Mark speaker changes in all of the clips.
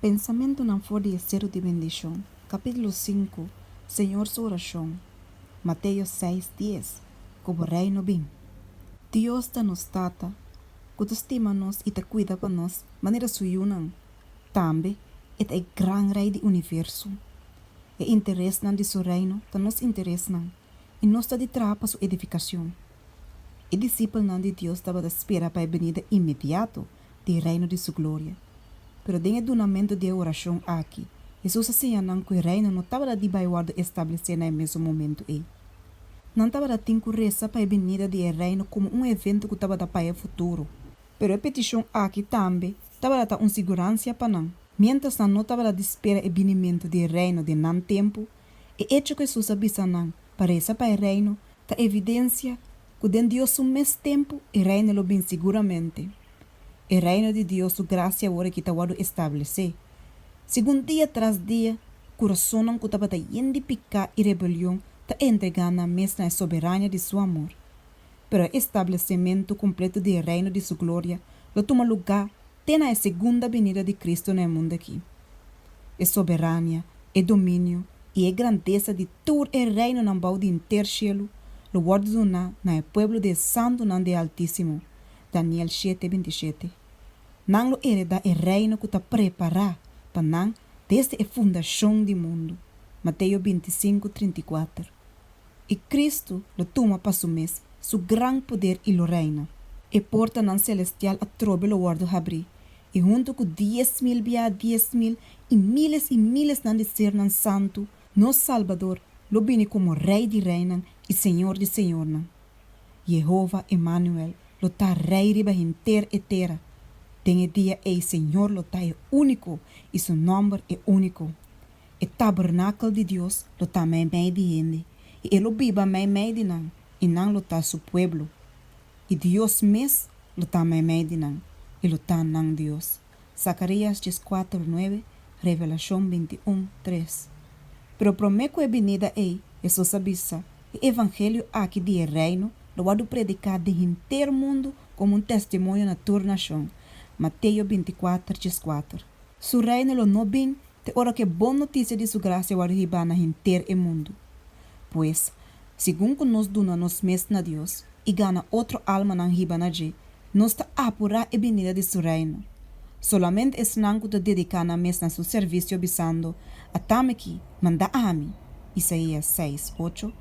Speaker 1: Pensamentunan for di e seru di bendishon. Capítulo sinku, Señor su oracion. Mateo seis dies, Cu bo reino bin. Dios ta nos Tata, cu ta stima nos y ta cuida pa nos, manera su yunan, Tambe e ta e Gran Rei di universo. E interesnan di su Reino ta nos interesnan i nos ta di traha pa su edificacion. E disipelnan di Dios tabata spera pa e benida inmediato di e Reino di su gloria. Pero den e dunamento di e oracion aki, Hesus a siña nan cu e Reino no tabata di bay wordo establecé na e mesun momento ei. Nan tabata tin cu reza pa e benida di e Reino como un evento cu tabata pa e futuro. Pero e peticion aki tambe tabata ta un siguransia pa nan. Miéntras nan no tabata di spera e binimentu di e Reino den nan tempu, e echo ku Hesus a bisa nan pa resa pa e Reino ta evidensia ku den Dios su mes tempu e Reino lo bin siguramente. E Reino di Dios su grasia awor aki ta wòrdu establesé. Segun dia tras dia, kurasonnan ku tabata yen di piká i rebelion ta entregá nan mes na e soberania di su amor. pero e establesimentu kumpletu di e Reino di su gloria lo tuma lugá te na e segunda binida di Kristu na e mundu akí. E soberania, e dominio i e grandesa di tur e reinonan bou di henter shelu lo wòrdu duná na e pueblo di e santunan di e Altísimo, Daniel shete binti shete. Nan lo eredá e Reino ku ta prepará pa nan desde e fundashon di mundu, Mateo binti sinku trinta i kuater. i Kristu lo tuma pa su mes su gran poder i lo reina. E portanan selestial atrobe lo wòrdu habrí, i huntu ku dies mil biaha dies mil i míles i mílesnan di sernan santu, nos Salbador lo bini komo Rei di reinan i Señor di señornan. Yehova Emanuel lo ta Rei riba henter e tera. Den e dia ei Señor lo ta e úniko i su nòmber e úniko. E tabernakel di Dios lo ta meimei di hende, i e lo biba meimei di nan, i nan lo ta su pueblo. I Dios mes lo ta meimei di nan, i lo ta nan Dios. Zacarías dies kuater nuebe, Revelacion bintiún tres. Pero promé ku e binida ei, Hesus a bisa, E evangelio aki di e Reino lo wòrdu prediká den henter mundu komo un testimonio na tur nashon, Mateo binti kuater, dies kuater. Su Reino lo no bin te ora ku e bon notisia di Su grasia wòrdu hibá na henter e mundu. Pues, segun ku nos duna nos mes na Dios i gana otro almanan hiba na dje, nos ta apurá e binida di Su Reino. Solamente esnan ku ta dediká nan mes na Su servisio bisando, Ata mi aki, manda ami, Isaías seis, ocho,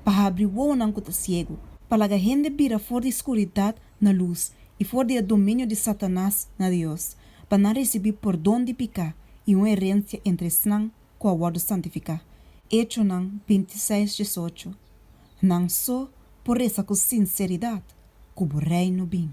Speaker 1: pa habri wowonan ku ta siegu, pa laga hende bira for di skuridat na lus i for di e dominio di Satanas na Dios, pa nan risibi pordon di piká i un erensia entre esnan ku a wòrdu santifiká, Echonan bintiseis diesocho. Nan so por resa ku sinseridat, Ku Bo Reino bin.